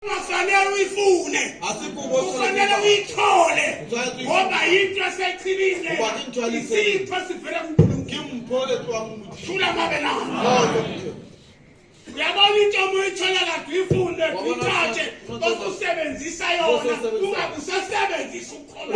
ungafanele uyifune ufanele uyithole ngoba yinto esechibile isipho sivele kunkulunkuluthula mabe nayo uyabona into uma uyithola kade uyifunde uyithathe osusebenzisa yona ungakusasebenzisa ukukholwa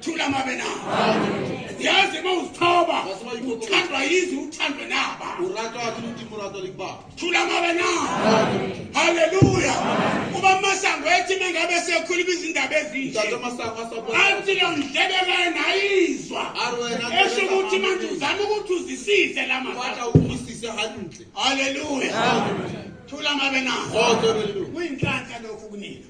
thula mabe na yazi uma uzithoba uthandwa yizi uthandwe naba thula mabe na haleluya uba masango ethi mengabe sekhuluma izindaba ezinje athi lo ndlebe kayena ayizwa esho ukuthi manje uzama ukuthi uzisize la haleluya thula mabe na kuyinhlanhla lokhu kunina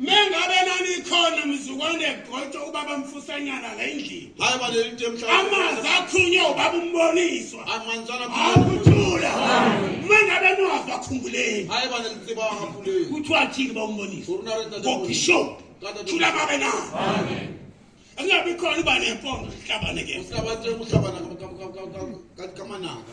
mengabe nanikhona mzukwane gqotshwa ubaba mfusanyana la endlini hayi baleli into emhlabeni amanzi akhunywe ubaba umboniswa amanzana akuthula mengabe niwazwa khumbuleni hayi baleli tsiba wakhuleni kuthiwa thini ba umbonisa kopi show thula babe na amen angabe khona uba nempondo sihlabane ke uhlabane uhlabana kamanaka